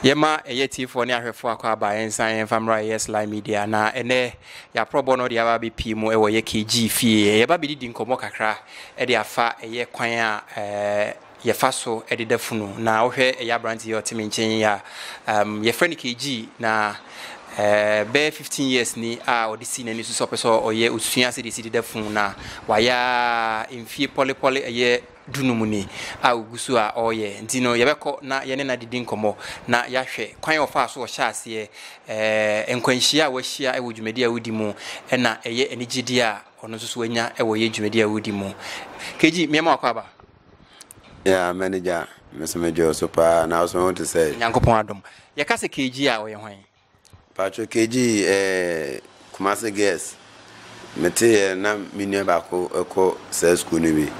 Yɛma ɛyɛ atiefoɔ ne ahwɛfoɔ akwaaba yɛnsan yɛmfa mmra ɛyɛ Sly Media na ɛnɛ yɛaprɔbɔ no de aba abɛpie mu ɛwɔ ɛyɛ KG fie. Yɛba abɛdidi nkɔmmɔ kakra ɛde afa ɛyɛ kwan a yɛfa so ɛde da funu. Na wohwɛ ɛyɛ aberanteɛ a ɔte me nkyɛn yi a, yɛfrɛ no KG na bɛyɛ 15 years ni a ɔde si n'ani so sɛ ɔpɛ sɛ ɔyɛ osua sɛdeɛ ɛsi de da funu na wayɛ a mfie pɔlepɔle ɛyɛ du no mu ni a ogu so a ɔreyɛ nti no, yɛbɛkɔ na yɛne no adidi nkɔmmɔ na yɛahwɛ kwan a ɔfaa so ɔhyɛ aseɛ, eh, nkwanhyia a wahyia wɔ dwumadi a wodi mu, ɛna ɛyɛ anigyedeɛ a ɔno nso so wanya wɔ yɛ dwumadi a wodi mu. KG, mmeɛma wakɔ aba. Yeah, manager, me so medwoo so paa, na wo so ho te sɛ? Nyankopɔn adom. Yɛka sɛ KG a ɔyɛ hwan? Paatwo KG ɛɛ Kumasi Girls me te yɛ na me nua baako ɛkɔ saa sukuu no bi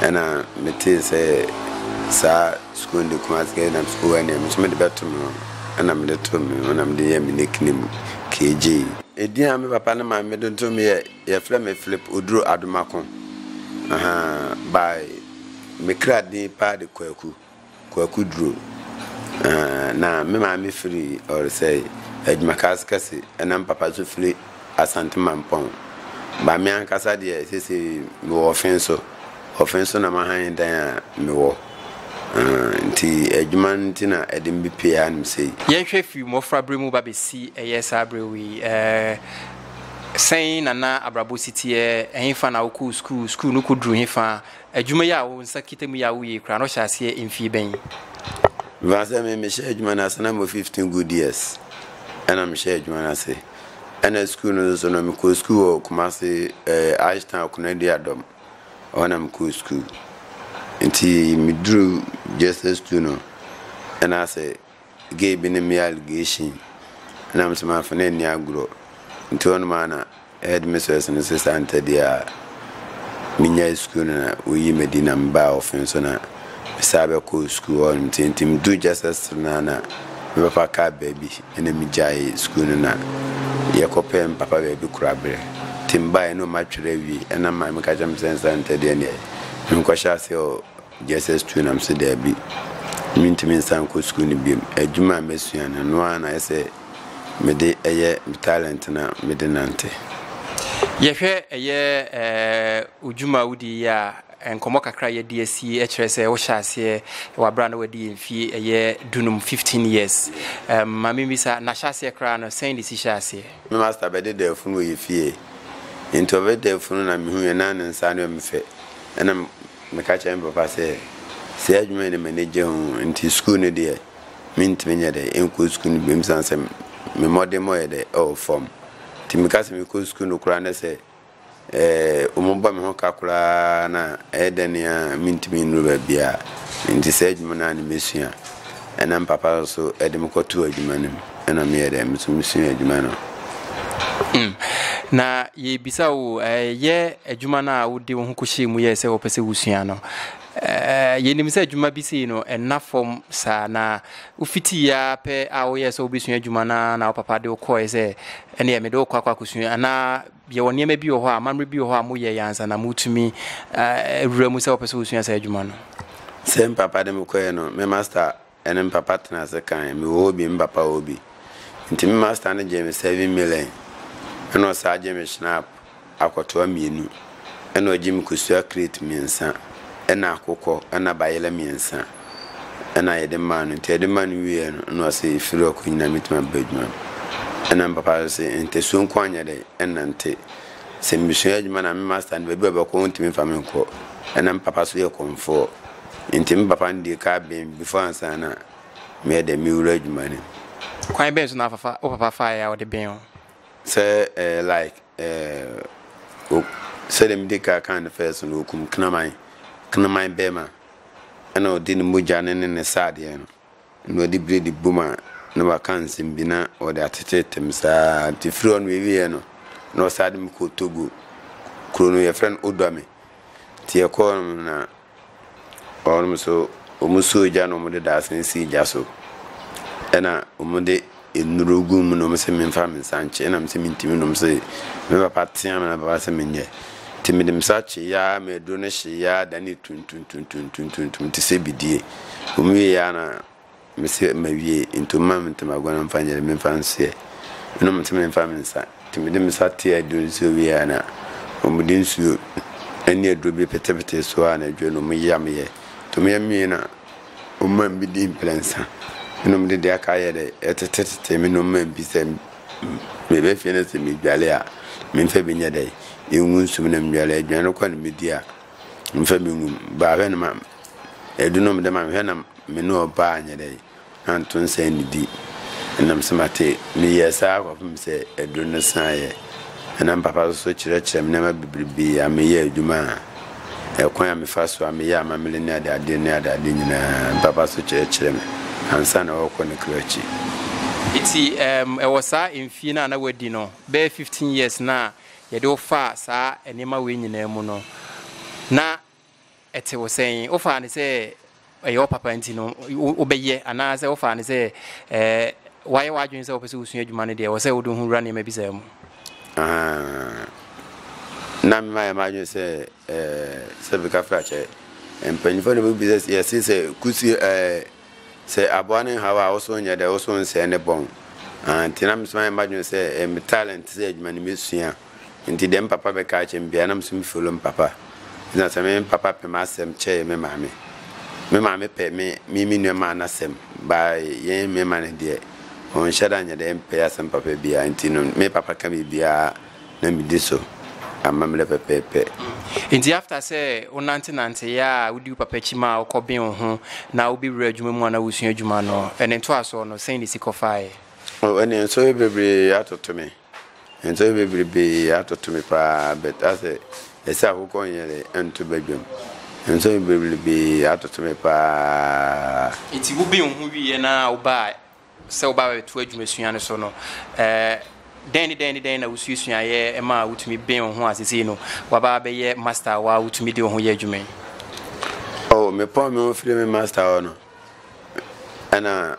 ɛna me te sɛ saa sukuu no de Kumasi Girls nam sukuu ɛna me nso me de bɛ to me ɛna me de to me ɛna me de yɛ me nickname KG. Edin a me papa ne maame de to me yɛ yɛfrɛ me Philip Oduro Adomako ahaa by me kra din paa de Kwaku. Kwaku Duro, Na me maame firi Ɔresɛe, Adwumakaa Asekase, ɛna me papa nso firi Asante Mampɔn. Ba me ankasa deɛ seesei mewɔ Ɔfenso. Ɔfenso na m'ahan dan a mewɔ. Nti adwuma no nti na ɛde me bepue hanom sei. Yɛnhwɛ firi mmɔfraberɛ mu ba bɛsi ɛyɛ saa berɛ wei, sɛn na na abrabɔ si teɛ? Ɛhefa na wokɔɔ sukuu? Sukuu no kɔduruu hefa? Adwuma yi a wo nsa kita mu yi a woyɛ yi koraa no hyɛ aseɛ mfie bɛn? Mfa sɛ me mehyɛɛ adwuma no ase na mewɔ fifteen good years ɛna mehyɛɛ adwuma no ase ɛna sukuu no nso no mekɔɔ sukuu wɔ Kumase eh, Ashton Akonadi Adɔm ɛhɔ na mekɔɔ sukuu nti meduru JSS two no ɛna sɛ Gay bi ne me allegation na me so manfa no anni agorɔ nti hɔ nom a na headmistress no sesa ntɛdeɛ a menyae sukuu no na woyi me di na mebaa ɔfen so na mesaa bɛkɔɔ sukuu hɔ nom nti nti meduu Justice Hill no a na mebɛfa kaa baabi na megyae sukuu no na yɛkɔpɛ mpapa baabi koraberɛ nti mebaeɛ no matwerɛ awie ɛna maa meka kyerɛ me sɛ nsa ntɛdeɛ neɛ menkɔhyɛ aseɛ wɔ JSS tu nam sɛ daabi, mentumi nsan nkɔ sukuu no biom. Adwuma a masua no, ɛno ara na ayɛ sɛ mede yɛ me talent no a mede nante. Yɛhwɛ ɛyɛ odwuma a wodie yi a, nkɔmmɔ kakra a yɛde asi kyerɛ sɛ wohyɛ aseɛ wɔ aberɛ a na wadi mfie ɛyɛ dunum, 15 years. Ma memmisa, na hyɛ aseɛ koraa no sɛn na ɛsi hyɛɛ aseɛ? Me master bɛde daa funu wɔ yɛn fie, nti ɔbɛdaa funu na mehuiɛ na ne nsa ano yɛ me fɛ, ɛna. Meka kyerɛɛ me papa sɛ, Saa adwuma yi na m'ani gye ho nti sukuu no deɛ, mentumi nyɛ dɛ nkɔ sukuu no bio esiane sɛ me mmɔdemmɔ yɛ dɛ ɛwɔ fam. Nti meka sɛ mekɔ sukuu no koraa na sɛ wɔbɔ me ho ka koraa na ɛyɛ dɛ no ara a mentumi nnuru baabiara. Nti saa adwuma no ara na mesua. Ɛna me papa so de me kɔtoo adwuma no mu. Ɛna meyɛ dɛ, me so mesuaa adwuma no. Mm. Na yɛbisa wo, yɛ adwuma no a wode wo ho kɔhyɛɛ mu yɛɛ sɛ wɔpɛ sɛ wosua no. Yɛnim sɛ adwuma bi sei no, ɛna fam saa na wofiti ya pɛ a woyɛɛ sɛ wobɛsua adwuma no na wo papa de wo kɔɛ sɛ ɛneɛ mede wo kɔ akɔ akɔsua anaa Yɛwɔ nneɛma bi wɔ hɔ a, amammerɛ bi wɔ hɔ a moyɛeɛ ansa na motumi awura mu sɛ wɔpɛ sɛ wosua saa adwuma no? Sɛ me papa de me kɔeɛ no, me masta ne me papa tenaa ase kaeɛ. Mewɔ hɔ bi, me papa wɔ hɔ bi. Nti me masta no gyee me seven million, ɛna ɔsan gyee me Schnapp akɔtoa mmienu, ɛna ɔgyee me kosua crate mmiɛnsa, ɛna akokɔ, ɛna bayerɛ mmiɛnsa. ɛna yɛde maa no nti yɛde maa no wieɛ no ɛna ɔse ɛfiri ɔkɔ nyina mɛtumi aba adwuma no ɛna mpapa so se ntasuo nko anyɛ dɛ ɛna nte sɛ mesua adwuma na me master no baabi a bɛkɔ ntumi fa me nkɔ ɛna mpapa so yɛ kɔmfoɔ nti mpapa no deɛ kaa bɛn before ansa na meyɛ dɛ mewura adwuma no kwan bɛn so na afafa wo papa faeɛ a ɔde bɛn o sɛ eh, like eh, sɛdeɛ mede ka kan no fɛ so no wɔkum knaman knaman bɛma ɛna ɔde ne mogya no ne ne sradeɛ no na ɔde bire de bom a na waka nsɛm bi na ɔde atetetem saa nti firi hɔ no ɛwieɛ no na ɔsaa de me kɔɔ Togo kuro no yɛfrɛ no Odwame nti yɛkɔɔ no na ɔnom so wɔn suo gya na wɔde daasene sii gya so ɛna wɔde nnuro gu mu na wɔn sɛ memfa me nsa nkye na me sɛ mentumi nom sɛ me papa tea me na papa sɛ menyɛ nti mede me nsa kye yaa ma aduro no hye yaa da ne tuntuntuntuntuntuntum te sɛ bidie wɔn wie yaa na me sɛ ma wie nti wɔn ma me ntoma agua na mfa nyɛ memfa nseɛ ɛna wɔn sɛ memfa me nsa nti mede me nsa te aduro no sɛ wie yaa na wɔn de nsuo ɛne aduro bi petepete so a na aduro no wɔn yam yɛ nti wɔn yam yɛ na Ɔman bi dii mprɛnsa. Ɛnnom de deɛ aka ayɛ dɛ ɛtetetete me nnomma mpi sɛ meba fie na sɛ medwale a memfa bi nyɛ dɛ ngu nsu mu na medwale aduane no kɔ na medi a memfa bi ngu mu baa hwɛ na ma ɛdu nom dɛ ma mehwɛ na me ne ɔbaa anyɛ dɛ anto nsa annidi ɛnam sɛ mate meyɛɛ saa kɔpem sɛ aduro no san yɛ ɛnam papa so so kyerɛkyerɛ me nneɛma bebrebe a meyɛ adwuma a Ɛkwan a mefa so a meyɛ amammerɛ ne adeadeɛ ne adeadeɛ nyinaa, me papa nso kyerɛkyerɛɛ me ansa na ɔrekɔ ne kra akyi. Enti ɛɛm ɛwɔ saa mfie no a na woadi no, bɛyɛ fifteen years no a yɛde wo faa saa nneɛma wei nyinaa mu no, na ɛte wo sɛn? Wofaa no sɛ ɛyɛ wo papa nti no wobɛyɛ anaasɛ wofaa no sɛ wayɛ w'adwene sɛ wopɛ sɛ wosua adwuma no deɛ wɔ sɛ wode ho wura nneɛma bi saa mu na mema yɛ m'adwene sɛ sɛ bika frakyɛ mpanyimfoɔ no bɛbi sɛ yɛse sɛ kusi sɛ aboa no nhaw a woso nyɛ dɛ woso nsɛe ne bɔn nti na mesoma yɛ m'adwene sɛ me talent sɛ adwuma no mɛsua Ntsi dɛm papa bɛkaa akyerɛ me biara na moso me follow me papa. Ntsi na sɛ me me papa pɛ m'asɛm kyɛɛ me maame, me maame pɛ me me me nua maa n'asɛm baa yɛn mɛma no deɛ ɔnnhyɛ da nnyɛ dɛ yɛmmpɛ y'asɛm papa biara ntsi no me papa ka biribiara na medi so amammerɛ pɛpɛɛpɛ. Ntsi after sɛ wo nantse nantse yɛ a wodi wo papa akyi maa ɔkɔ been wo ho na wo bɛwura adwuma mu a na wo sua adwuma no, ɛne ntoasoɔ no sɛn na esi kɔ faeɛ? Oh ɛneɛ nsɔhwɛ bebree atoto me. Nsɔhwɛ bebrebe atoto me paa but asɛ ɛsɛ akokɔ nyɛrɛ ɛnto badwam. Nsɔhwɛ bebrebe atoto me paa. Nti wo ben ho wieɛ na wo baa sɛ wo ba bɛto adwumasua no so no ɛɛ dɛn ne dɛn ne dɛn na wo suasuaeɛ ɛma wo tumi ben wo ho a sesei no waba abɛyɛ master wa wo tumi de wo ho yɛ adwuma yi? Oh me pɔn me ho firi me master hɔ no. Ɛna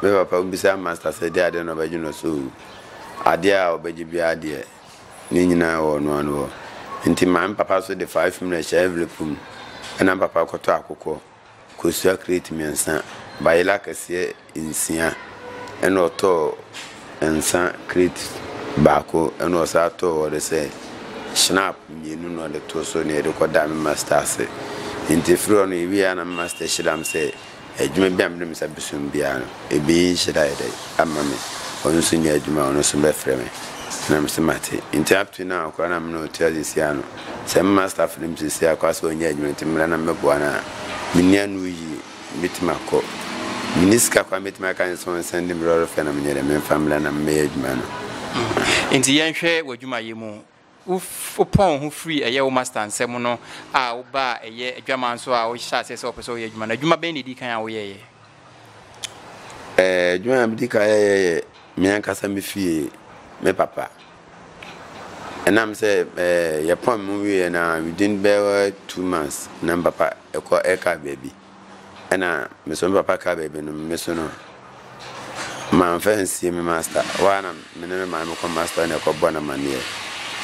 me papa bisa Master sɛ deɛ adeɛ na ɔbɛgye no so o. Adeɛ a ɔbɛgye biara deɛ ne nyinaa wɔ ɔno ano hɔ. Nti maame papa nso de five million hyɛ envelope mu. Ɛna papa kɔtɔ akokɔ, kosua crate mmiɛnsa, bayela kɛseɛ nsia, ɛna ɔtɔɔ. nsa krate baako na ɔsan too hɔ de sɛ Schnapp mmienu na ɔde too so na yɛde kɔdaa me master ase. Nti ɛfiri hɔ no yɛwieeɛ a na me master hyira me sɛ adwuma bi a mede me nsa bɛsɔ mu biara no ɛbɛyɛ nhyira ayɛ dɛ ama me. Ɔno nso nya adwuma a ɔno nso bɛfrɛ me na mese mate. Nti up to now koraa na me ne ɔtua seesei a no sɛ me master frɛ me seesei a koraa sɛ ɔnyɛ adwuma nti mmerɛ na mɛboa no a menni ano yie. Mɛtumi akɔ. Menni sika koraa mɛtumi aka ne sɛ ɔnsɛnde me lɔre fɛ na menyɛ dɛn memfa mmra na memmɛyɛ adwuma no. Enti yɛnhwɛ w'adwumayɛ mu. Wopɔn wo ho firii ɛyɛ wo master nsɛm no a wobaa ɛyɛ adwaman so a wohyɛɛ aseɛ sɛ wopɛ sɛ woyɛ adwuma no, adwuma bɛn na ɛdii kan a woyɛeɛ? Adwuma a medi kan yɛeɛ yɛ me ankasa me fie, me papa. Ɛnam sɛ yɛpɔn mu wieɛ no a within bɛyɛ two months na me papa ɛkɔ ɛka baabi ɛna me so me papa ka baabi no me so no manfa nsie me master hɔ a na me ne me maame kɔ master na ɛkɔbɔ no amaneɛ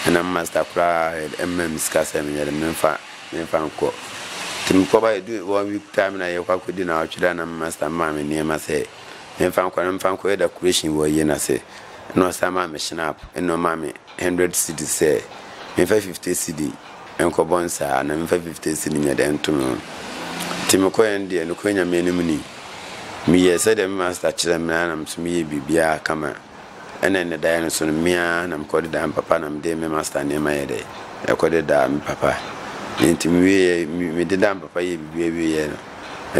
ɛna me master koraa ɛma me sika sɛ menyɛ de memfa memfa nkɔ nti mekɔba ɛdu one week time na yɛkɔ akɔdi na ɔtwerɛ na me master maa me nneɛma sɛ Menfa nkɔ na menfa nkɔyɛ decoration wɔ yie no ase. Ɛna ɔsan maa me schnapp, ɛna ɔmaa me hundred cedis sɛ menfa fifty cedi nkɔ bɔ nsa anaa menfa fifty cedi nyɛ dɛn nto me ho. Nti mekɔeɛ no deɛ, nokorɛ Nyame anim ni, meyɛɛ sɛdeɛ me master kyerɛɛ me no ara na me nso meyɛɛ biribiara kama. Ɛna ɛnnɛ daeɛ no so no, me ara na mekɔ de da me papa na mede me master nneɛma yɛ dɛ ɛkɔ de da me papa. Nti mewieɛ, mede da me papa yɛ biribiara wieɛ no,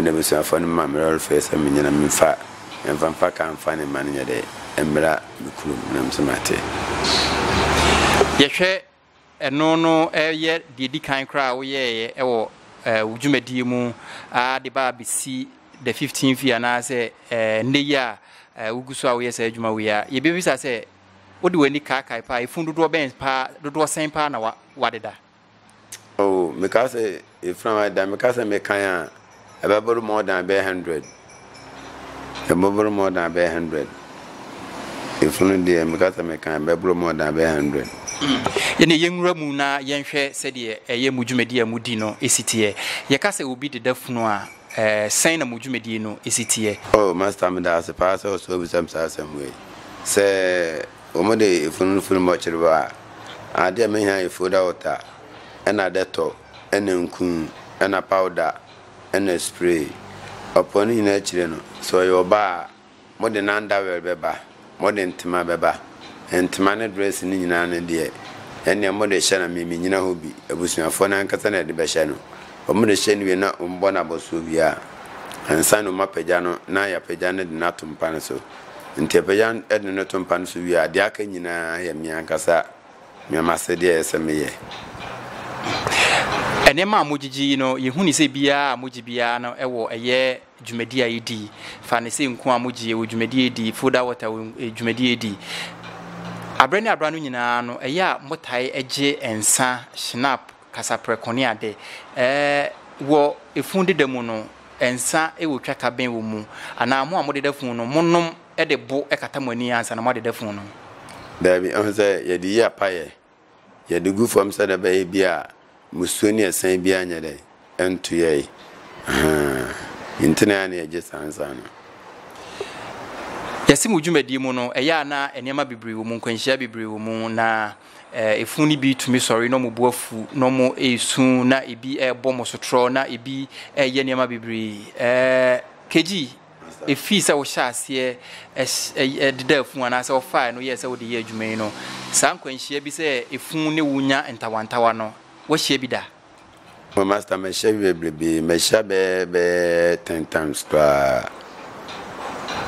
ɛna abusuafoɔ no ma me lɔrefair sɛ menyɛ na memfa mfa mfa kaa mfa ne mma no nyɛ dɛ mmra me kurom na mese mate. Yɛhwɛ Ɛno no yɛ deɛ ɛdi kan koraa a woyɛeɛ wɔ wo dwumadie mu ara de ba abɛsi the 15th year anaasɛ nnɛ yi a wogu so a woyɛ saa adwuma wei a, yɛbɛbisa sɛ wode w'ani kaakae paa, ɛfunu dodoɔ bɛn paa, dodoɔ sɛn paa na wadeda? Oh, mekaa sɛ Efraim ayɛ dɛn? Meka sɛ mekan a, ɛbɛboro more than bɛyɛ hundred. Ɛbɛboro more than bɛyɛ hundred. Efunu deɛ, meka sɛ mekan a, ɛbɛboro more than bɛyɛ hundred. Ɛnna yɛnwura mu na yɛnhwɛ sɛdeɛ ɛyɛ mo dwumadie a modi no si teɛ. Yɛka sɛ obi deda funu a, sɛn na mo dwumadie no si teɛ? Oh, Master, meda ase paa sɛ ɔsɔɔ bisa me saa asɛm wei. Sɛ wɔde efunu no funu bɔkyere hɔ a, adeɛ a mɛhia yɛ folder water. na dɛtɔ na nku na pawda na spray. Ɔpɔ ne nyinaa akyire no, sɛ ɔyɛ ɔbaa a, mode n'underwear bɛba, mode ntoma bɛba. Ntoma ne dress no nyinaa no deɛ, ɛnneɛ mode hyɛ no a, me mennyina hɔ bi. Abusuafoɔ no ankasa na wɔde bɛhyɛ no. Wɔde hyɛ no wie na wɔbɔ no abɔsoɔ wie a, ansa na wɔapagya no na yɛapagya no de no ato mpa no so. Nti wɔpagya no de no to mpa no so wie a, deɛ aka nyinaa yɛ me ankasa Nea m'asɛdeɛ yɛ sɛ meyɛ. Nneɛma a mogyegye yi no, yɛhu ne sɛ biara a mogye biara no wɔ ɛyɛ dwumadi a ɛdi. Fa ne sɛ nku a mogye ɛwɔ dwumadi a ɛdi, foda water wɔ eh, dwumadi a ɛdi. Aberɛ ne aberɛ no nyinaa no, ɛyɛ a motae gye nsa, shinap, kasaprɛko ne ade. Eh, wɔ efun deda mu no, nsa wɔ twaka bɛn wɔ mu? Anaa mo a modeda fun no, monom de bo kata mo ani ansa na moade da funu no. Daabi, ɛho sɛ yɛde yi apaeɛ, yɛde gu fam sɛdeɛ ɛbɛyɛ bi a musuo ne ɛsɛn biara nyɛ dɛn, ɛnto yɛn. Ahaa, nti na ɛyɛ na yɛgye saa nsa no. Yɛse mo dwumadie mu no, ɛyɛ a na nneɛma bebree wɔ mu, nkwanhyia bebree wɔ mu, na ɛfunu no bi tumi sɔre na wɔn bo afu, na wɔn resu, na ebi rebɔ mo sotorɔ, na ebi reyɛ nneɛma bebree. Ɛɛ, Kegyi, Ɛfiri sɛ wohyɛɛ aseɛ dedaa funu anaasɛ wofaaɛ no yɛɛ sɛ wode yɛ adwuma yi no, saa nkwanhyia bi sɛ ɛfunu ne wo nya ntawantawa no, woahyia bi da? Oh master mahyia bi bebrebee, mahyia bɛɛ bɛɛ ten times koraa.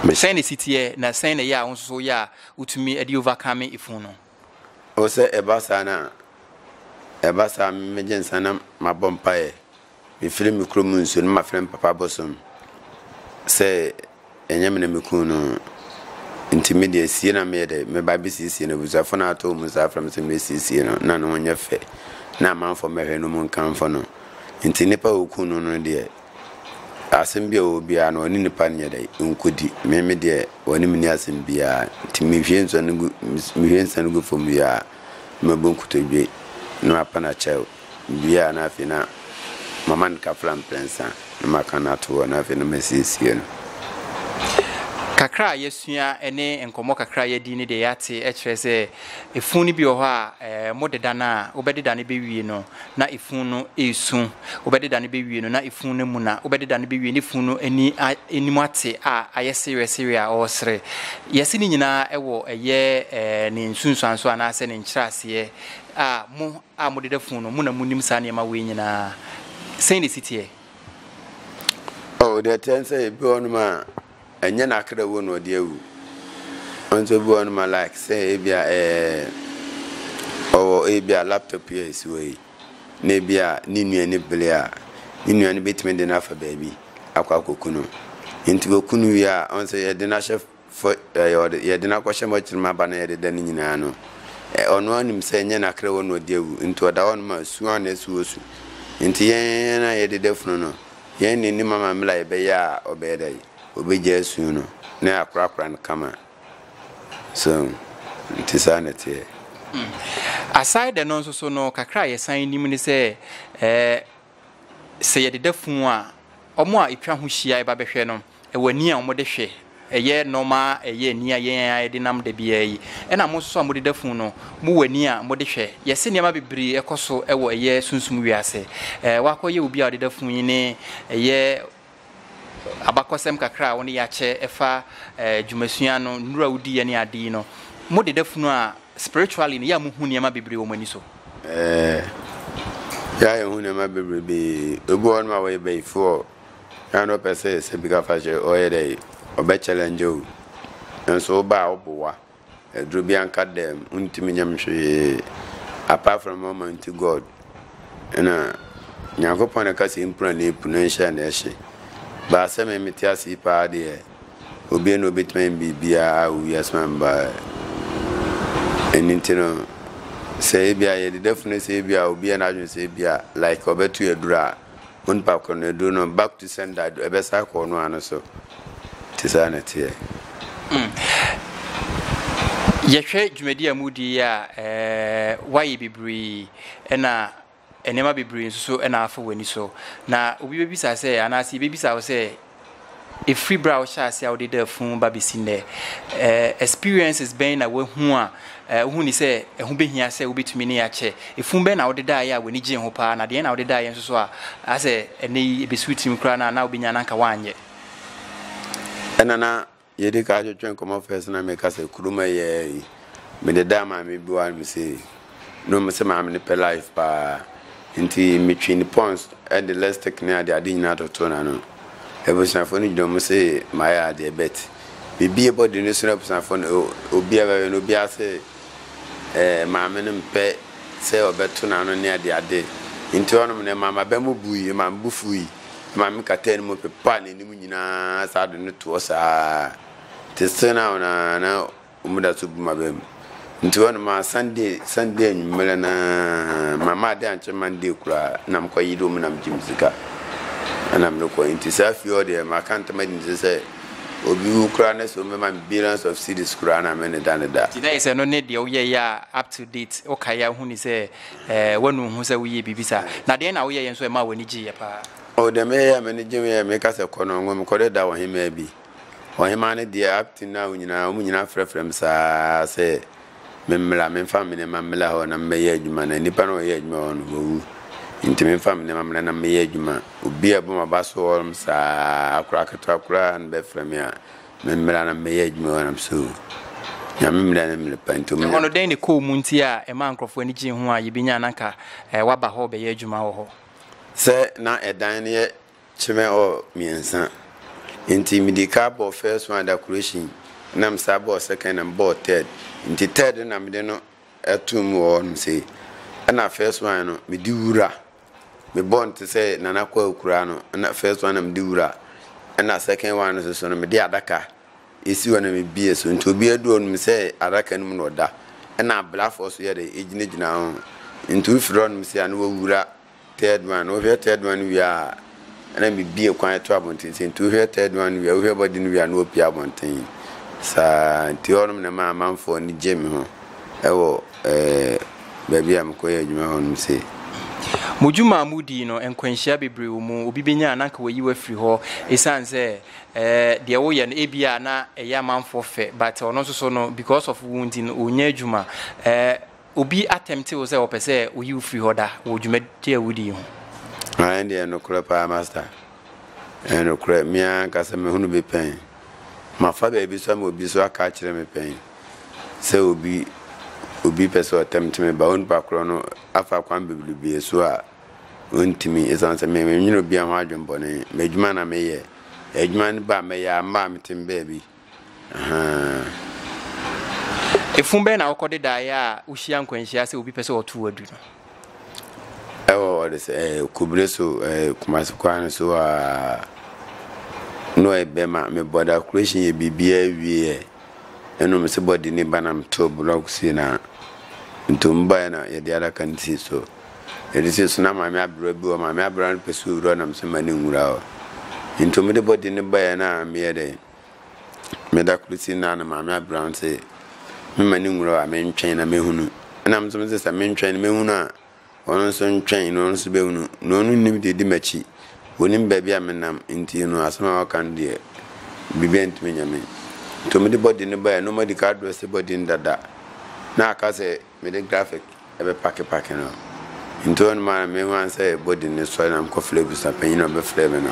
Sɛn na ɛsi teɛ na sɛn na ɛyɛ a wo nso so woyɛ a wotumi de overcome ɛfunu no? O sɛ ɛba saa no a, ɛba saa a me mɛgye nsa na mabɔ mpaeɛ, mefiri me kuro mu nsuo no mafrɛ me papa bosom sɛ ɛnyɛ me na mekuu no nti me deɛ sie na meyɛ dɛ meba bɛsiesie no abusuafo no atɔ mu saa frɛ me sɛ mɛsiesie no na ne ho nyɛ fɛ na amanfoɔ mmɛhwɛ no mu nkamfo no nti nipa a ɔkuu no no deɛ Asɛm bi a ɔwɔ biara no, ɔne nipa no nyɛ dɛ, nkɔdi. Me me deɛ, ɔne me nni asɛm biara. Nti mehwie nsuo no gu, mehwie nsa no gu fam wie a, na mabu nkotodwe, na mapa no akyɛw. Wie a, na afei na mama no kafra mprɛnsa, na maka no ato hɔ, na afei na masiesie no. Kakra a yɛasua ne nkɔmmɔ kakra a yɛadi ne deɛ yɛate kyerɛ sɛ efunu no bi wɔ hɔ a, modeda no a, wobɛdeda no bɛwie no, na efunu no resu. wobɛdeda no bɛwie no na efunu no amu na wobɛdeda no bɛwie na efunu no ani anim ate a ayɛ sereɛsereɛ a ɔresere. Yɛse ne nyinaa ɛwɔ ɛyɛ ɛɛ ne nsunsuanso anaasɛ ne nkyerɛaseɛ a mo a modeda funu no mo na monim saa nneɛma wei nyinaa. Sɛn na esi teɛ? Oh, deɛ ɛteɛ ne sɛ ebi wɔ hɔnom a ɛnyɛ n'akra wuo na ɔde awu. Nso ebi wɔ hɔnom a like sɛ ebia ɛɛ ɔwɔ ebia laptop yi a esi hɔ yi. na ebia ne nua ani bere a, ne nua no betumi de no afa baabi akɔ akoku no. Enti woku no wie a, ɔn sɛ yɛde no ahyɛ fɔ ɛɛ yɛde no akɔhyɛ mɔkyere mu aba na yɛde da no nyinaa no, ɔno ara nim sɛ ɛnyɛ n'akra wɔ na ɔde awu, nti ɔda hɔ nom a su ara na ɛsi wɔ su. Nti yɛn a yɛde da funu no, yɛn na enim ama mmerɛ a yɛbɛyɛ a ɔbɛyɛ dɛ? Obegyae su no na yɛakorakora no kama. So nte saa na ɛteɛ? Aside ɛno nso so no, kakra a yɛsan nim ne sɛ sɛ yɛde da funu a, wɔn a ɛtwa ho hyia ɛba bɛhwɛ no, ɛwɔ ani a wɔde hwɛ, ɛyɛ nɔɔma, ɛyɛ ani a yɛn a yɛde nam da biara yi. Ɛna mo nso so a mode da funu no, mowɔ ani a mode hwɛ. Yɛse nneɛma bebree ɛkɔ so ɛwɔ ɛyɛ sunsum wiase. Wakɔyɛ obi a ɔde da funu yi ne ɛyɛ abakɔsɛm kakra a wɔde akyɛ ɛfa eh, dwumasua no, nnuro a wodiiɛ ne ade yi no, mo deda funu a spiritually no yɛ a mohu nneɛma bebree wɔ mo ani so. Eh, yɛ a yɛhu nneɛma bebree bi ebi wɔ nom a wɔyɛ bayifoɔ yɛ na ɔpɛ sɛ sɛ bi ka fa kyerɛ ɔyɛ dɛ ɔbɛ challenge o nso woba a woboa Aduru bianka dɛm ontumi nyɛ me hwee apart from Almighty God na Nyankopɔn na ɛka sɛ mpira na epu na nhyɛ na ɛhye baa sɛ me mete ase yi paa deɛ obie na obetumi ayɛ biribiara a owi asoma me baa ɛni nti no sɛ ebi a yɛde dafunu sɛ ebi a obi yɛ n'adwene sɛ ebi a like ɔbɛto aduru a Onipa koro no aduru no back to sender do ɛbɛsa akɔ ɔno ano so te saa na teɛ. Mm. Yɛhwɛ dwumadi a mudi yi a ɛɛ wayɛ bebree ɛna nneɛma bebree nso so ɛna afa w'ani so na obi bɛbisa sɛ anaasɛ yɛbɛbisa wo sɛ Ɛfiri berɛ a wohyɛɛ aseɛ a wode daa funu ba bɛsi nnɛ, experiences bɛn na woahu a wohu ni sɛ ɛho bɛhia sɛ wobɛtumi ne akyɛ? Ɛfunu bɛn na wode daeɛ a w'ani gyee ho paa, na deɛn na wode daeɛ nso so a asɛ ɛnnɛ yi ɛbɛsi wo tirim koraa no a na wobɛnya no anka woanyɛ? Ɛna na Yɛdi kan twetwe nkɔmmɔ first na meka sɛ kurom ɛyɛ yi. Mede daa maame bi wa no me sei. No me sɛ maame no pɛ life paa. Nti metwe ne pons ɛde lipstick ne ade ade nyinaa toto n'ano. Abusuafoɔ no gyina mu se mayɛ adeɛ bet. Mebie body no so na abusuafoɔ no obia bɛhwɛ no obia se eh, maame no mpɛ sɛ ɔbɛto n'ano ne ade ade. Nti hɔnom no ɛma m'aba mu bui, ɛma me bo fui. ɛma me kataa no mu pepaa n'anim nyinaa saa de no toɔ saa te sɛ na wɔn na wɔn da so bu ma bɛn mu nti wɔn ma sunday sunday anwummerɛ na ma ma ade ankyɛ monday koraa na mo kɔ yi de wɔn nam gye mu sika ɛna mo kɔ nti saa fie hɔ deɛ ma ka ntoma di nti sɛ obi wu koraa na sɛ wɔn bɛma me billions of cities koraa na me ne da ne da. ti na yɛ sɛ no ne deɛ woyɛ yɛ a up to date wokaeɛ a wohu ne sɛ Ɛɛ, woanu wo ho sɛ woyɛɛ biribi saa? Na dɛn na woyɛeɛ nso a ɛmaa w'ani gyeeɛ paa? O, deɛ meyɛeɛ a m'ani gyee ho yɛ, meka sɛ, Kɔ no, ngo me kɔdeda ɔhemmaa bi. Ɔhemmaa no deɛ, Abton ne Awo nyinaa, wɔn nyinaa frɛfrɛɛ me saa ara sɛ memmra, memfa me nneɛma mmra hɔ na memmɛyɛ adwuma, na nnipa no a wɔyɛ adwuma wɔ hɔ no, wɔawu. Enti memfa me nneɛma mmra na memmɛyɛ adwuma. Obi a ɛbɔ m'aba so hɔ nom saa ara, akora ketewa koraa na bɛfrɛ me a, Me mmara no mɛyɛ adwuma wɔ nam so. Nyame mmara no mmere pa nti. Ɛhɔ no dɛn ne kɔɔ mu nti a ɛmaa nkurɔfoɔ ani gyee ho a yɛbɛnya na nka eh, waba hɔ bɛyɛ adwuma wɔ hɔ? Sɛ na ɛdan no yɛ kyemɛ ɔ mmiɛnsa nti mede ka bɔɔ first one decoration na mesa bɔɔ second na mebɔɔ third nti third na mede no ɛto mu wɔ hɔ nom sei ɛna first one no mede wura me bɔ no te sɛ Nana Kwawu koraa no, na first one na me de wura, ɛna second one nso so no me de adaka esi hɔ na me bie so, nti obi adu ɔnum sɛ adaka no mu na ɔda, ɛna ablafoɔ so yɛ de egyinagyina ho, nti wofiri ɔnum sɛ a na wɔwura third one, wohwɛ third one wie a. Ɛna mebue kwan to abɔnten sɛ nti wohwɛ third one wie a wohwɛ body no wie a na wapue abɔnten saa nti hɔnom na ɛma amanfoɔ ani gye me ho ɛwɔ ɛɛ baabi a mekɔyɛ adwuma hɔnom sei. Mo dwuma a modii no nkwanhyia bebree wɔ mu, obi bɛnya a na anka wayi wo afiri hɔ ɛsiane sɛ ɛɛ deɛ woyɛ no ebia na ɛyɛ amanfoɔ fɛ but ɔno nso so no because of wo nti no ɔnnya adwuma ɛɛ obi atɛmte wo sɛ ɔpɛ sɛ oyi wo firi hɔ da wɔ dwumadie a wodi yi ho? Aane deɛ, nokorɛ paa Master. Ɛyɛ nokorɛ, me ara ankasa mahunu bi pɛn. Mafa baabi so ama obi nso aka akyerɛ me pɛn sɛ obi obi pɛ sɛ ɔtɛmte me ba onipa korɔ no afa kwan bebrebee so a ɔntumi ɛsiane sɛ menwene obiara ho adwene bɔne. M'adwuma na meyɛ. Adwuma no ba a mɛyɛ a mmaa mete me baabi. Ahaa. Fun bɛn na wokɔde daeɛ a wohyia nkwanhyia sɛ obi pɛ sɛ ɔto adu no? Ɛwɔ hɔ de sɛ eh, Kubire so eh, Kumasi kwan no so aa. No ɛbɛ ma me bɔ da kuration yɛ biribiara wie ɛ. Ɛno me se bɔ di ne ba na me to block si na ntom baeɛ na yɛde adaka no si so. Yɛde si so na maame abira bi wɔ maame abira no pɛ so wura na me se ma ne nwura hɔ. Ntom de bɔ di ne baeɛ na meyɛ dɛn? Me da kor si na na Maame Abrantse mema ne nwura a mentwɛn na mehunu. Nna me so medze sɛ mentwɛn na mehunu a, ɔno so ntwɛn na ɔno so bɛhunu. Na ɔno nnim deɛ ɔdi m'akyi, ɔnim baabi a menam nti no asɛm a ɔka no deɛ biribi antumi anya me. Nti ɔmede bɔden no baeɛ na ɔmadi ka adrɛse bɔden dada na aka sɛ. Mede graphic bɛpakepake no. Nti hɔ nom ara na mehuan sɛ body no sɔre na mekɔ frɛ abusuapanyin na ɔbɛfrɛɛ me no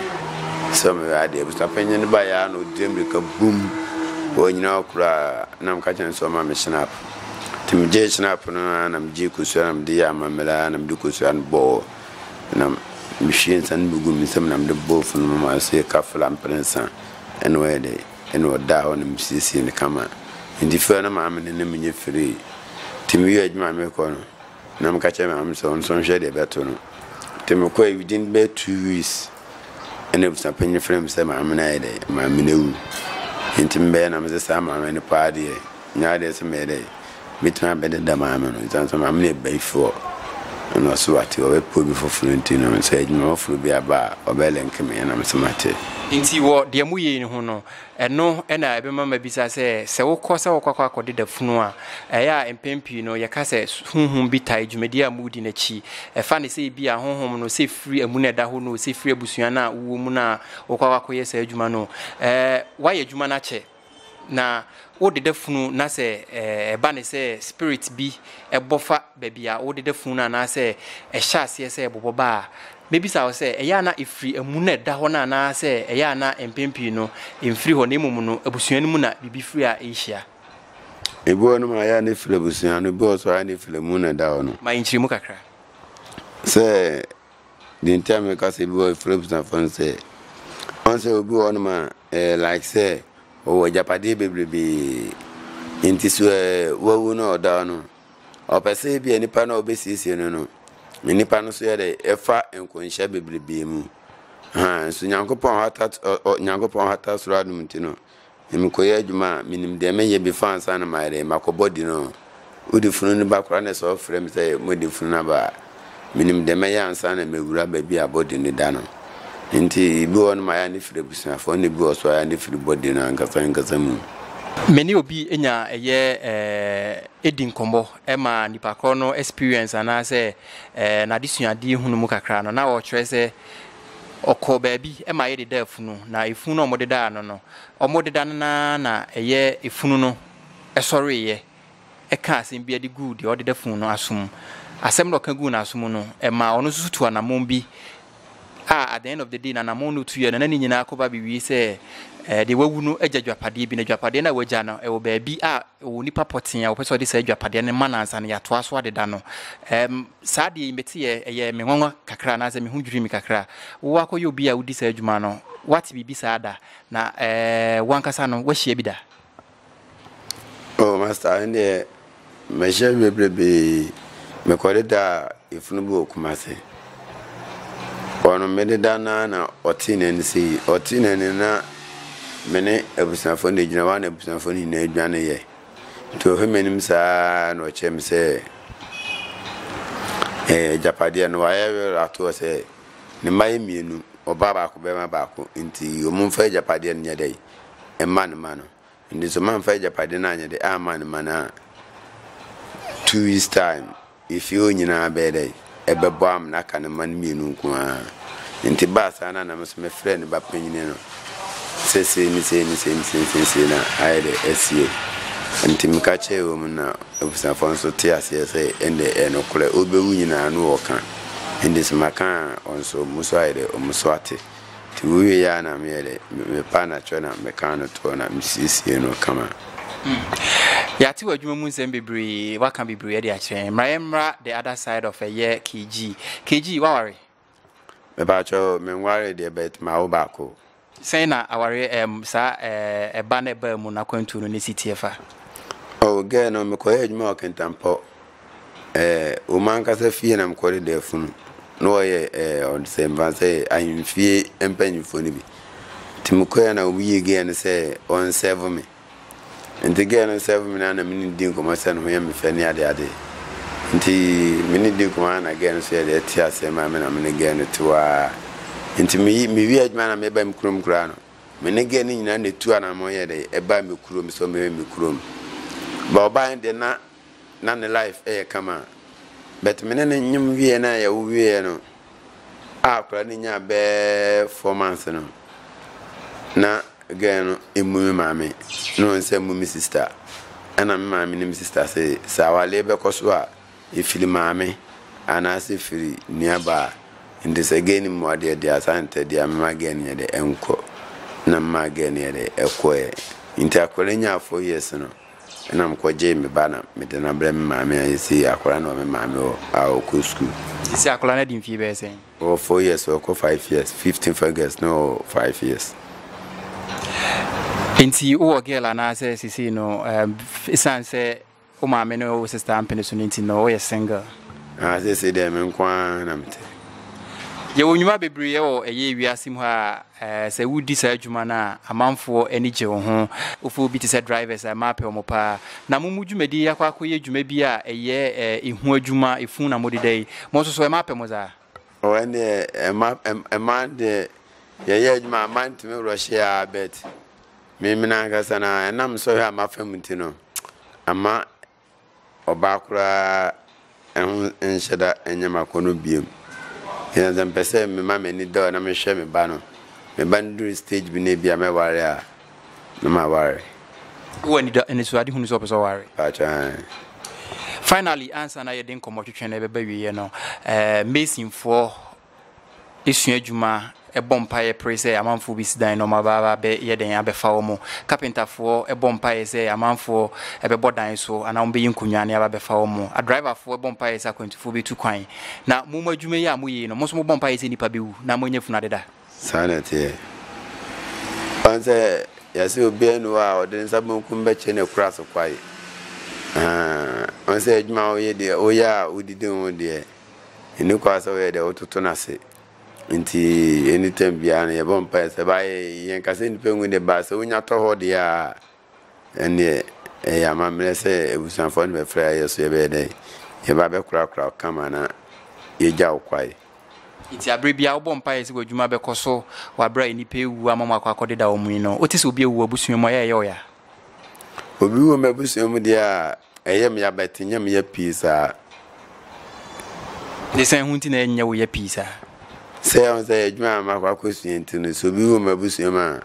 sɛ ɔmmɛyɛ adeɛ. Abusuapanyin no baeɛ ara na ɔtue mmirika bumm wɔ ɔnyina hɔ koraa na meka kyerɛɛ no sɛ ɔmma me Schnapp. Nti megyee Schnapp no ara na megyee kosua na mede yɛɛ amammerɛ ara na mede kosua no bɔɔ na mehwiee nsa no bi guu me nsam na mede bɔɔ funu mu maa no sɛ yɛka fla mprɛnsa ɛno ɛyɛ dɛ. na ɔdaa hɔ na mesiesie no kama nti fɛɛ no maame no ne menye firii nti meyɛ adwuma mekɔ no na meka kyerɛ maame sɛ ɔno nso nhwɛ deɛ ɛbɛto no nti mekɔ a within bɛyɛ two weeks ɛna abusuapanyin frɛ me sɛ maame no ayɛ dɛ maame no awu nti mebɛyɛ na mese saa maame no paa deɛ Nyaa dɛ sɛ meyɛ dɛ mɛtumi abɛdeda Maame no ɛsiane sɛ Maame no yɛ bayifoɔ ɛna ɔse wate ɔbɛpɛ obi foforɔ nti no sɛ adwuma foforɔ bi aba a ɔbɛ link me ɛna mese mate. Nti wɔ deɛ moyei no ho no, ɛno na ɛbɛma mabisa sɛ, sɛ wokɔ sɛ wokɔ akɔ akɔdeda funu a, ɛyɛ a mpɛn pii no yɛka sɛ honhom bi tae dwumadie a moredi no akyi. Ɛfa ne sɛ ebia honhom no sɛ firi amu na ɛda hɔ no, sɛ firi abusua no a wowɔ mu no a wokɔ akɔ akɔyɛ saa adwuma no. Ɛɛ, woayɛ adwuma no akyɛ. Na wo deda funu na sɛ ɛba ne sɛ spirit bi ɛbɔ fa baabi a wo deda funu no anaasɛ ɛhyɛ aseɛ sɛ ɛbobɔ ba a, mɛbisa wo sɛ ɛyɛ a na ɛfiri amu na ɛda hɔ no anaasɛ ɛyɛ a na mpɛn pii no ɛmfiri hɔ na mmom no abusua no mu na biribi firi a ɛrehyia? Ebi wɔ nom a ɛyɛ a na ɛfiri abusua no, ebi wɔ so a na ɛfiri amu na ɛda hɔ no. Ma yɛnkyerɛ mu kakra. Sɛ deɛ nti a meka sɛ ebi wɔ ɛfiri abusuafoɔ no sɛ, ɔn sɛ obi wɔ nom a Ɛyɛ like sɛ ɔwɔ agyapadeɛ bebrebee nti so ɛɛ wawu no ɔda hɔ no ɔpɛ sɛ ebi a nipa no a ɔbɛsiesie no no nipa no so yɛ dɛ ɛfa nkɔnhyɛ bebrebee mu haa nso nyankopɔn hata nyankopɔn hata soro adum ti no mekɔyɛ adwuma a menim deɛ meyɛ bi fa ansa na mayɛ dɛ makɔbɔ di no Wode funu no ba koraa na sɛ ɔfrɛ me sɛ mode funu no aba a, menim deɛ mɛyɛ ansa na mawura baabi a body no da no. Nti ebi wɔ hɔ nom a ɛyɛ a ne firi abusuafoɔ na ebi wɔ so a ɛyɛ a ne firi body no ankasa ankasa mu. Me ne obi nya ɛyɛ eh, di nkɔmmɔ ma nipa korɔ no experience anaasɛ eh, n'adesuadeɛ hunu mu kakra no na ɔkyerɛ sɛ ɔkɔɔ baabi ma yɛdedaa funu na efunu no a wɔdedaa no no wɔdeda no na na ɛyɛ efunu no ɛsɔreeɛ kaa asɛm bi de guu deɛ ɔdeda funu no aso mu. Asɛm no a ɔka guu n'aso mu no, ɛmaa ɔno nso tu anammɔn bi a at the end of the day n'anammɔn no tuiɛ no na ne nyinaa kɔba bɛwie sɛ eh, deɛ wawu no agya dwapadeɛ bi na dwapadeɛ no a wagya no ɛwɔ baabi a ɛwɔ nipa pɔtee a wɔpɛ sɛ ɔde saa dwapadeɛ no ma no ansa no yɛatoa so adeda no um, saa deɛ meteɛ ɛyɛ me nwanwa kakra anaasɛ me ho dwiri me kakra wowɔ akɔyɛ obi a wodi saa adwuma no wate biribi saa da na eh, wankasa no wahyia bi da Oh master ɛndeɛ mɛhyɛ wie berebee mekɔde da efunu bi wɔ Kumasi ɔno mede da no ara na ɔtee n'ani sɛ yi ɔtee n'ani na me ne abusuafoɔ no gyina hɔ a na abusuafoɔ no nyinaa dwane yɛ nti ɔhwɛ m'anim saa na ɔkyerɛ me sɛ ɛɛ agyapadeɛ no wayɛ werɛ atoɔ sɛ ne mma yɛ mmienu ɔbaa baako bɛrima baako nti wɔn mfa agyapadeɛ no nyɛ dɛ yi. mma ne mma no. Enti sɛ mamfa agyapade no anyɛ de amma ne mma no a, two weeks time, efie hɔ nyinaa bɛyɛ dɛ ɛbɛbɔ am na aka ne mma no mmienu nko ara. Enti baa saa na nam so mefrɛ ne ba panyin no sɛ sei ne sei ne sei ne sei ne sei na ayɛ dɛ asie. Enti meka kyerɛɛ wɔn na abusuafoɔ nso te aseɛ sɛ ɛnde ɛyɛ nokorɛ, wobewu nyinaa na wɔka. Enti sɛ maka a wɔn nso wɔn so ayɛ dɛ wɔn so ate. Nti wowie yɛ a na meyɛ dɛ mepa anatwerɛ na meka no toɔ na mesiesie no kama. Hmm. Yɛate w'adwuma mu nsɛm bebree, waka bebree de akyerɛ yɛn. Mmra yɛmmra the other side of ɛyɛ KG. KG, waware? Mepakyɛ o, menware deɛ but mawo baako. Sɛn na awareɛ ɛm saa ɛba na ɛbaa mu no akwantuo no ne si teɛ fa? Oh, girl no mekɔyɛ adwuma wɔ Kintampo eh, wɔ m'ankasa fie na mekɔde da funu na wɔyɛ eh, ɔde sɛ mfa sɛ ahemfie mpanyinfoɔ no bi nti mekɔɛ na obi yɛ gɛɛ no sɛ ɔnsɛvo me nti gɛɛ no nsɛvo me no ana me ne di nkɔmmɔ sɛ ne ho yɛ me fɛ ne ade ade nti me ne di nkɔmmɔ ana gɛɛ no so yɛde ɛte aseɛ ma me na me ne gɛɛ no te waa nti meyi mewi adwuma na meba me kurom koraa no me ne gɛɛ no nyinaa na ɛtu anammɔ yɛ dɛ ɛba me kurom sɛ ɔmɛwɛ me kurom ba ɔbaa deɛ na na ne life yɛ kama but me ne no nyem wieɛ na yɛwo wieɛ no a akwadaa no nyaa bɛɛ four months no na girl no emu me maame na wɔn sɛ mu me sister ɛna me maame ne me sister sɛ sɛ awaleɛ bɛkɔ so a efiri maame anaasɛ firi nuabaa nti sɛ girl no mu adeɛ deɛ asa ntɛ deɛ mema girl no yɛ dɛ ɛnkɔ na mema girl no yɛ dɛ ɛkɔɛ nti akwadaa nyaa four years no Ɛna mekɔgyee me ba na mede no abrɛ me maame a seesei akwadaa no wɔ me maame hɔ a ɔkɔ sukuu. Seesei akwadaa no adi mfeɛ bɛyɛ sɛn? Ɔwɔ four years ɔrekɔ five years, fifteenth August na ɔwɔ five years. Enti wowɔ girl anaasɛ seesei no ɛsiane sɛ wo maame ne wo sister ampene so no nti no woyɛ single? Ah, seesei deɛ me nko ara na mete. Yɛwɔ nnwuma bebree wɔ ɛyɛ wiase mu ha a Sɛ wodi saa adwuma no a, amanfoɔ ani gye wo ho. Wofɛ obi te sɛ drivers a, mmaa pɛ wɔn pa ara. Na mo mu dwumadie yi akɔ akɔyɛ dwuma bi a ɛyɛ ehu adwuma, efunu na mode da yi. Mo nso so, mmaa pɛ mo saa? Oh, ɛnneɛ mmaa, mmaa deɛ yɛyɛ adwuma a, mmaa ntumi rɔhye ara, but me, me no ankasa no ara, ɛnam sɔhwɛ a mafa mu nti no, ama ɔbaa koraa ho nhyɛ da nyɛ m'akɔnnɔ biom. Ebia sɛ mepɛ sɛ mema m'ani da hɔ na mehwɛ me ba no, me ba no duru stage bi na ebia mɛware a, na maware. Wowɔ anida anisoadehu no sɛ wopɛ sɛ ɔware? Mpakyɛ ae. Finally, ansa na yɛde nkɔmmɔtwetwe no bɛba awieɛ no, eh, Masonfoɔ sua adwuma, bɔ mpaeɛ pere sɛ amanfoɔ bɛsi dan na wɔaba abɛyɛ dɛn abɛfa wɔn. Kapentafoɔ bɔ mpaeɛ sɛ amanfoɔ bɛbɔ dan so anaa wɔbɛyi nkonnwa ne aba abɛfa wɔn. Adriverfoɔ bɔ mpaeɛ sɛ akwantufoɔ bɛtu kwan. Na mo mo adwuma yi a moyɛ yi no, mo nso mobɔ mpaeɛ sɛ nnipa bɛwu na moanya funu adeda. Saa na ɛteɛ. Ɔn sɛ yɛse obiara ni hɔ a ɔde ne nsa benkum bɛkyɛ no akura so kwae. Ɔn sɛ adwuma a woyɛ deɛ, woyɛ a wodidi ho deɛ, Nni kwan sɛ woyɛ dɛ wototo no ase. Ntsi anytime biara no yɛbɔ mpae sɛ ba yɛ yɛnka sɛ nyimpa nnwu de ba sɛ wonya tɔ hɔ deɛ a ɛnneɛ ɛyɛ amammerɛ sɛ abusuafoɔ no bɛfrɛ a yɛ so yɛbɛyɛ dɛ yɛba bɛkorakora wo kama na yɛgya wo kwae. Ntsi aber biara wobɔ mpae sɛ w'adwuma bɛkɔ so wɔ aber a nyimpa ewu ama wɔakɔ akɔdeda wɔn yi no, wote sɛ obi ewu w'abusua mu a yɛ a ɛyɛ wo ya? Obi wu m'abusua mu deɛ a Ɛyɛ me ya but ɛnyɛ me ya pii saa. Desan ho nti na ɛnyɛ wo ya pii saa? Sɛ yɛn sɛ adwuma a makɔ akɔsua nti no sɛ obi wɔ mu abusua mu a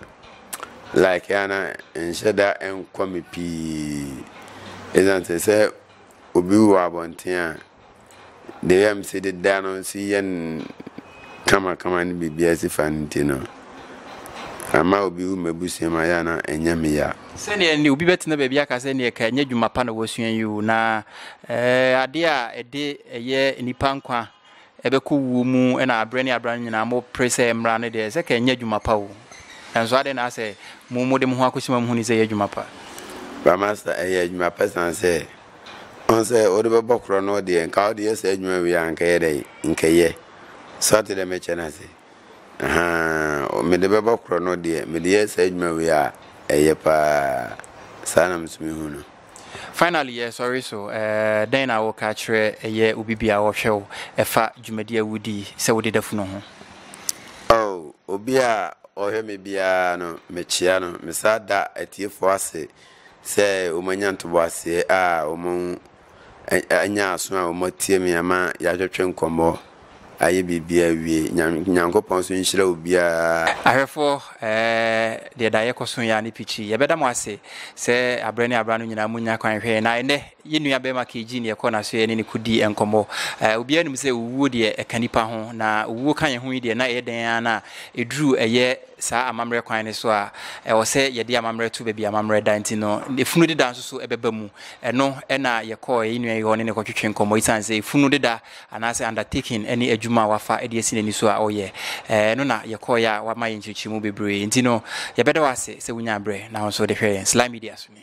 like a na nhyɛ da nkɔ me pii. Ɛsiane sɛ sɛ obi wɔ abɔnten a deɛ yam si deda no si yɛ kamakama ne biribiara si fa no nti no ama obi wu m'abusua mu ayɛ na ɛnyɛ me ya. sɛdeɛ ne obi bɛtena baabi aka sɛ neɛ ka ɛnyɛ adwuma pa na wasua yi o na eh, adeɛ a ɛde ɛyɛ nnipa nkwa ɛbɛkɔ wuo mu na aberɛ ne aberɛ no nyinaa mopere sɛ mmara no deɛ sɛ ka ɛnyɛ adwuma pa o nanso adɛn na asɛ mo mode mo ho akɔsi ma mohuni sɛ ɛyɛ adwuma pa ba master ɛyɛ adwuma pa sane sɛ Ɔn sɛ wode bɛbɔ korɔ no deɛ nka wode yɛ saa adwuma wei a nka yɛ dɛn nka yɛ so ate dɛ mɛkyɛ no ase ahaa mede bɛbɔ korɔ no deɛ mede yɛ saa adwuma wei a ɛyɛ paa saa na meso mehu no Finally, eh, sorry so, eh, dɛn na woka kyerɛ ɛyɛ obi bi a ɔhwɛ wo ɛfa dwumadi a wodi sɛ wode da funu ho? Oh, obi a ɔhwɛ me biara no, mekyea no, mesa da atiefoɔ ase Sɛ wɔanya ntoboaseɛ a wɔanya aso a wɔatie me ama yɛatwetwe nkɔmmɔ ayɛ biribiara awie. Nyame Nyankopɔn nso nhyira obiara. Ahwɛfoɔ, deɛ da a yɛkɔ so yɛ a ne pikyi. Yɛbɛda mo ase sɛ aberɛ ne aberɛ ano nyinaa monya kwan hwɛɛ yɛn. Na ɛnnɛ, Yɛn nua bɛrima KG ne yɛkɔɔ n'aso yɛne no kɔdii nkɔmmɔ. Obiara nim sɛ owuo deɛ ɛka nipa ho, na owuo ka yɛn ho yi deɛ na ɛyɛ dɛn ara na ɛduru ɛyɛ saa amammerɛ kwan no so a, ɛwɔ sɛ yɛde amammerɛ to baabi amammerɛ da nti no, efunu deda nso so ɛbɛba mu. Ɛno na yɛkɔɔ yɛn nua yi hɔ ne no kɔtwetwe nkɔmmɔ esiane sɛ efunu deda anaasɛ undertaking ne adwuma a wafa de asi n'ani so a ɔyɛ. Ɛno na yɛkɔeɛ a wama yɛn nkyerɛkyerɛmu bebree nti no, yɛbɛda wo ase sɛ wonyaa berɛ na wo nso wode hwɛɛ yɛn Sly Media so nie.